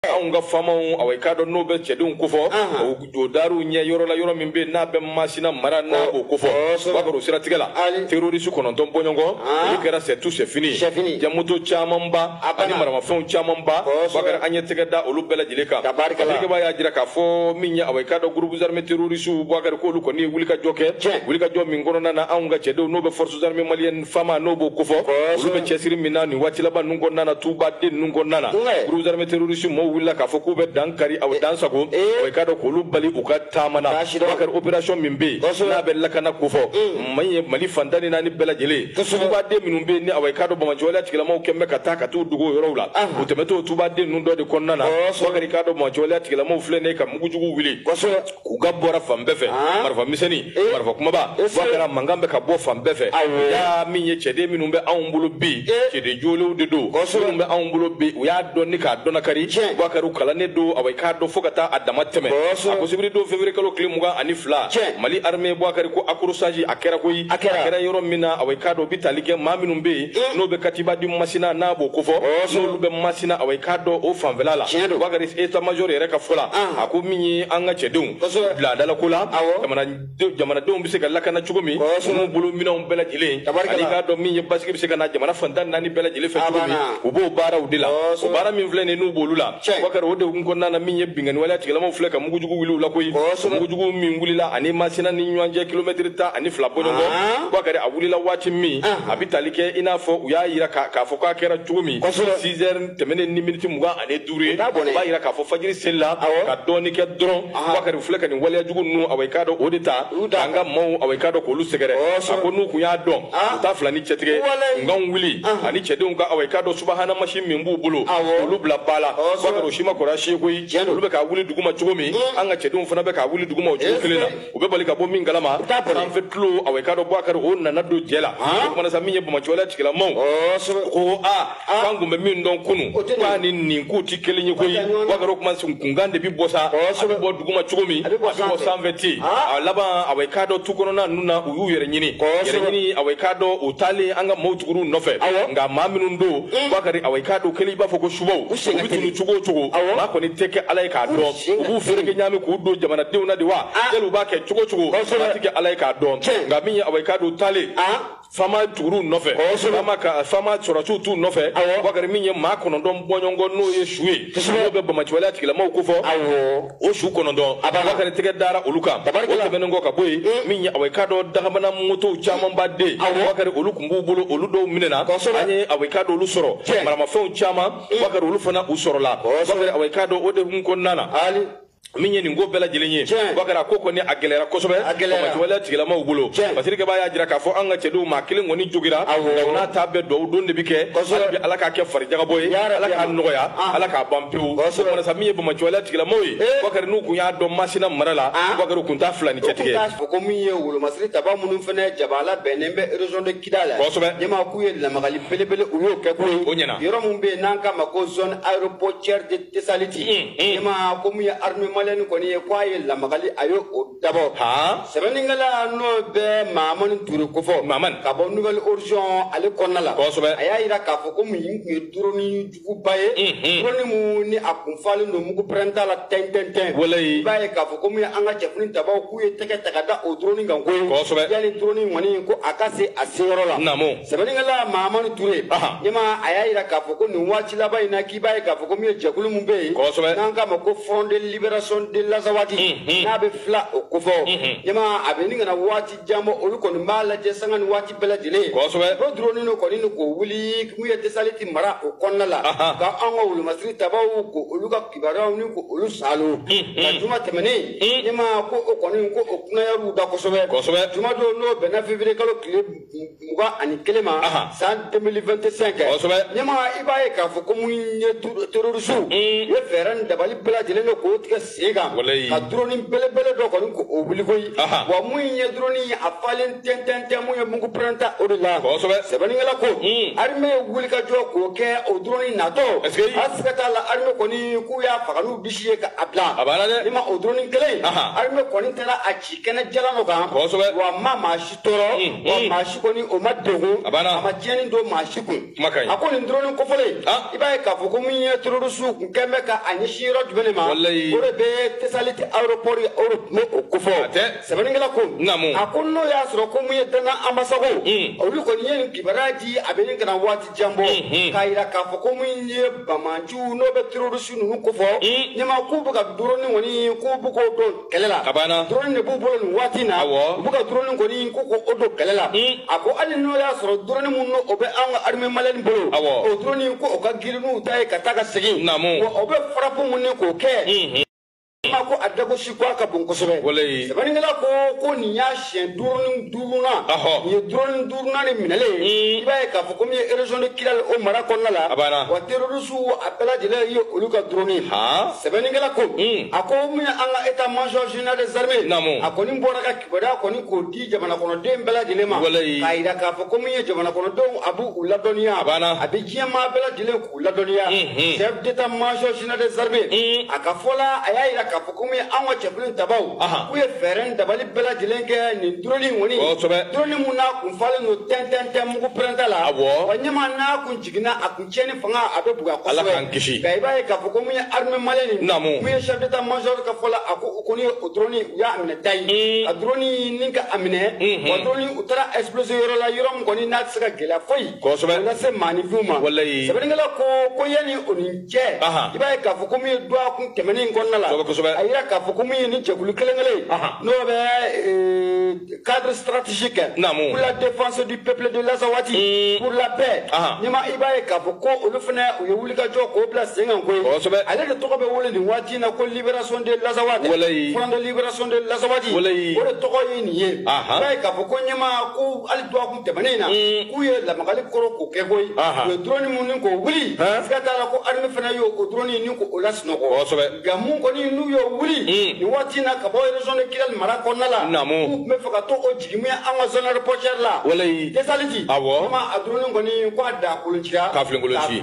anw ka faamaw awa i k'a dɔn n'o bɛ cɛdenw kofɔ o daaru ɲɛ yɔrɔ la yɔrɔ min bɛ yen n'a bɛ masina mara n'a b'o kofɔ bakari o siratigɛ la terorisi kɔnɔntɔn bɔɲɔgɔnkɔ olu kɛra c'est tout c'est fini ja moto camanba ani maramafɛnw camanba bakari an ye tɛgɛ da olu bɛɛ lajɛlen kan alikeba y'a jira k'a fɔ min ye awa i k'a dɔn groupes armés terroristes bakari k'olu kɔni ye wulikajɔ kɛ wulikajɔ min kɔnɔna na anw ka cɛdenw n'o bɛ forces armées maliennes fama n'o b'o kofɔ olu bɛ cɛsiri min na nin waati laban ninnu kɔnɔna na tuba den ninnu kɔnɔna na groupe armé terroriste mɔɔw wulila k'a fɔ k'u bɛ dan kari aw dan sagon awa i k'a dɔn k'olu bali u ka taama na bakari opération min bɛ yen n'a bɛ lakana kofɔ maa ye mali fan tan ni naani bɛɛ lajɛlen tuba den minnu bɛ yen ni awa i k'a dɔn banbaanci waleya tigilamaw kun bɛ ka taa ka t'u dogo o yɔrɔw la u tɛmɛtɔ tuba den ninnu dɔ de kɔnɔna na bakari k'a dɔn banbaanci waleya tigilamaw filɛ nin ye ka mugujugu wuli k'u kan bɔra fan bɛɛ fɛ ah. marifa misɛnni eh. marifa kumaba eh, bakari a mankan bɛ ka bɔ fan bɛɛ fɛ y'a min ye cɛden minnu bɛ anw bolo bi eh. cɛden jolenw de don minnu bɛ anw bolo bi u y'a dɔn ni k'a dɔnnakari bakari u kalannen don awa i k'a dɔn fo ka taa a dama tɛmɛ a ko sibiri don février kalo tile mugan ani fila mali armée bakari ko accrochage a kɛra koyi a kɛra yɔrɔ min na awa i k'a dɔn u bɛ tali kɛ maa minnu bɛ yen mm. n'o bɛ katiba di masina n'a b'o kofɔ n'olu bɛ masina awa i k'a dɔn o fanfɛla la bakari état-major yɛrɛ ka fɔ la ah. a ko min ye an ka cɛdenw laadalako la jamanadenw bɛ se ka lakana cogo min n'u bolo minɛnw bɛɛ lajɛlen ani k'a dɔn min ye basigi bɛ se ka na jamana fan tan naani bɛɛ lajɛlen fɛ cogo min u b'o baaraw de la o baara min filɛ nin ye n'u b'olu la Bakari o de kun kɔnɔna na min ye binkanni waleya tigilamaw filɛ ka mugujugu wuli u la koyi mugujugu min wulila ani Masina ni ɲɔgɔn cɛ kilomɛtiri tan ani fila bɔɲɔgɔnkɔ Bakari a wulila waati min a bɛ tali kɛ i n'a fɔ u y'a jira k'a fɔ k'a kɛra cogo min six heures tɛmɛnen ni miniti mugan ani duuru ye o b'a jira k'a fɔ fajiri selila ka dɔɔni kɛ dɔrɔn Bakari u filɛ ka nin waleya jugu ninnu awa i k'a dɔn o de ta k'an ka maaw awa i k'a dɔn k'olu sɛgɛrɛ a ko n'u tun y'a dɔn u t'a fila ni cɛtigɛ nkanw wuli ani cɛdenw ka awa i k'a dɔn subahana min b'u bolo olu bila baara la bakari o si ma kɔrɔsi koyi olu bɛ ka wuli duguma cogo min mm. an ka cɛdenw fana bɛ ka wuli duguma o cogo kelen na u bɛ bali ka bɔ min kalama an fɛ tulo awa i k'a dɔn bakari o nana don jɛ la o kuma na sa min ye banbaanci waleya tigilamaw ko a k'an kun bɛ min dɔn kunu k'a ni nin k'u tɛ kelen ye koyi bakari o kuma kunkan de bɛ bɔ sa a bɛ bɔ duguma cogo min a bɛ bɔ sanfɛ ten a laban awa i k'a dɔn tu kɔnɔna ninnu na u y'u yɛrɛ ɲini yɛrɛ ɲini awa i k'a dɔn u taalen an ka maaw tugur'u nɔfɛ nka maa minnu don mm. bakari awa i k'a dɔn kelen i b'a fɔ ko subaw u bɛ tunu cogo o cogo maa kɔni tɛ kɛ ala ye k'a dɔn u b'u fereke ɲaami k'u don jamanadenw na de wa ah. yali u b'a kɛ cogo o cogo maa tɛ kɛ ala ye k'a dɔn nka min ye awa i k'a dɔn u taalen ah. fama tugur'u nɔfɛ fama ka fama sɔrɔsiw t'u nɔfɛ bakari min ye maa kɔnɔntɔn bɔɲɔgɔnkɔ n'o ye su ye n'o bɛ banbaanci waleya tigilamaw kofɔ o su kɔnɔ don bakari tɛgɛ dara olu kan o tɛmɛnen kɔ ka bɔ yen mm. min ye a ka dɔn dagamana motow camanba de bakari olu tun b'u bolo olu dɔw minɛna an ye a ka dɔn olu sɔrɔ maramafɛnw caman mm. bakari olu fana u sɔrɔla bakari a ka dɔn o de kun kɔnɔna na min ye nin ko bɛɛ lajɛlen ye bakari ko kɔni a gɛlɛyara kosɛbɛ banbaanciwaleya tigilamaw bolo basirikɛba y'a jira k'a fɔ an ka cɛdenw maa kelen kɔni jogira n'a ta bɛɛ duwawu don de bi kɛ hali bi ala k'a kɛ farijagabɔ ye ala k'a nɔgɔya ala k'a ban pewu kumana sa min ye banbaanciwale tigilamɔgɔw ye eh. bakari n'u kun y'a dɔn masina mara la ah. bakari kun t'a fila ni cɛtigɛ fɔ ko min ye wolomasiri tabaw minnu fɛnɛ jabala bɛnnen bɛ région de kidal la kosɛbɛ ɲama k'u ye lamagali belebele u y'o kɛ ko ye o ɲɛna yɔrɔ min bɛ yen n'an k'a ma ko zone aéroportière de tesaliti ɲama hmm, hmm. ko min ye armée malienne kɔni ye ko a ye lamagali a y'o dabɔ sɛbɛnnikɛla n'o bɛ mahamani ture kofɔ mahamani ka bɔ nouvel horizon ale kɔnɔna la kosɛbɛ a y'a jira k'a fɔ ko min tun ye duroni juguba ye dɔrɔnni mun ni a kun falen don mugu pɛrɛnta la tɛntɛntɛn i b'a ye k'a fɔ ko min ye an ka cɛfini tabaw k'u ye tɛgɛ ta ka da o dɔrɔnni kan ko yanni dɔrɔnni kɔni ko a ka se a seyɔrɔ la sɛbɛnnikɛla mahamani ture ɲama a y'a jira k'a fɔ ko nin waati laban in na k'i b'a ye k'a fɔ ko min ye jɛkulu min bɛ yen n'an k'a ma ko front de libération de lazawadi n'a bɛ fla o kofɔ ɲama a bɛ ni kana waati jan bɔ olu kɔni b'a lajɛ sanga ni waati bɛɛ lajɛlen kosɛbɛ o duroni dɔ kɔni k'o wuli mun ye tesaliti mara o kɔnɔna la ka an ka wolomasiri tabaw ko olu ka kibaruyaw ni ko olu salo ka juma tɛmɛnen ɲama ko o kɔni ko o kunayariw da kosɛbɛ kosɛbɛ juma don n'o bɛnna février kalo tile mugan ani kelen ma san 2025 kɛ kosɛbɛ ɲama i b'a ye k'a fɔ ko mun ye terorisiw u mm. ye fɛɛrɛ ni dabali bɛɛ lajɛlen kɛ k'o tigɛ sen kan ka duroni belebele dɔ kɔni k'o wuli koyi wa mun ye duroni ye a falen tɛntɛntɛn mun ye mugu pɛrɛnta o de la kosɛbɛ sɛbɛnnikɛla ko mm. arime ye wulikajɔ k'o kɛ o duroni natɔ a siga t'a la arime kɔni k'u y'a faga n'u disi ye ka a bila ni ma o duroni kelen arime kɔni taara a ci kɛnɛ jalan dɔ kan wa maa maa si tɔɔrɔ wa maa si kɔni o ma degun a ma tiɲɛni don maa si kun a ko nin dɔrɔnni kofɔlen i b'a ye k'a fɔ ko min ye terorisiw kun kɛn bɛ ka a ɲɛsin yɔrɔ jumɛn de ma o de bɛ tesaliti aéroport yɔrɔ nin o kofɔ sɛbɛnnikɛla ko a ko n'o y'a sɔrɔ ko min ye dana anbasago olu kɔni ye nin kibaruya di a bɛ nin kana waati jan bɔ k'a jira k'a fɔ ko min ye banbaanciw n'o bɛ terorisi ninnu kofɔ ɲama k'u bɛ ka dɔrɔnni kɔni k'u bɛ k'o don kɛlɛ la a banna drone de b'u bolo nin waati na awɔ u bɛ ka drone kɔni ko ko o don kɛlɛ la a ko hali n'o y'a sɔrɔ drone min n'o bɛ an ka armée malienne bolo awɔ o drone ko o ka girin n'u ta ye ka taa ka segin naamu wa o bɛ frappe mun ni k'o kɛ ma ko a dagosi ko a ka bon kosɛbɛ sɛbɛnnikɛla ko ko nin y'a siɲɛ duroni duurunan nin ye duroni duurunan de minɛlen ye i b'a ye k'a fɔ ko min ye région de Kidal o mara kɔnɔna la a banna wa terroriste a bɛɛ lajɛlen ye olu ka drone sɛbɛnnikɛla ko a ko min ye an ka état major général des armées naamu a kɔni bɔra ka kibaruya kɔni k'o di jamanakɔnɔden bɛɛ lajɛlen ma walayi k'a jira k'a fɔ ko min ye jamanakɔnɔdenw a b'u ladɔnniya a banna a bɛ diɲɛ maa bɛɛ lajɛlen o ladɔnniya chef d'état major général des armées a ka fɔ la a y'a jira k'a fɔ ko min ye anw ka cɛkulu in tabaw k'u ye fɛɛrɛ ni dabali bɛɛ lajɛlen kɛ nin duroni in kɔni duroni min n'a kun falen don tɛntɛntɛn mugu pɛrɛnta la wa ɲɛma n'a kun jiginna a kun tiɲɛni fanga a bɛ bonya kosɛbɛ nka i b'a ye k'a fɔ ko min ye armée malienne nin min ye chef d'état major ka fɔ la a ko o kɔni o duroni u y'a minɛ ta ye a duroni ni ka a minɛ wa duroni u taara exploser yɔrɔ la yɔrɔ min kɔni n'a tɛ se ka gɛlɛya foyi kosɛbɛ nase maaninfinw ma walayi sɛbɛnnikɛla ko ko yanni o ni cɛ i b'a ye k'a fɔ ko min ye dɔgɔkun tɛmɛnen in kɔnɔna la kosɛbɛ a yira k'a fɔ ko min ye ni jɛkulu kelen kelen n'o bɛ e, cadre stratégique pour la défense du peuple de l'Azawad mm. pour la paix n'i ma i b'a ye k'a fɔ ko olu fana u ye wulikajɔ k'o bila sen kan koyi kosɛbɛ ale de tɔgɔ bɛ wele nin waati in na ko libération de l'Azawad walayi front de libération de l'Azawad walayi o de tɔgɔ ye nin ye i b'a ye k'a fɔ ko ɲɛmaa ko hali dɔgɔkun tɛmɛnen in na k'u ye lamagali kɔrɔ k'o kɛ koyi u ye drone minnu ni k'o wuli siga t'a la ko arme fana y'o o drone ni k'o lasunɔgɔ nka min kɔni n'u y'o wuli nin waati in na ka bɔ région de Kidali mara kɔnɔna la k'u tun bɛ fɛ ka t'o jigin min an ka zone aéroportuaire la Tesaliti vraiment a drone kɔni ko a dagakoloncira k'a filenkolonci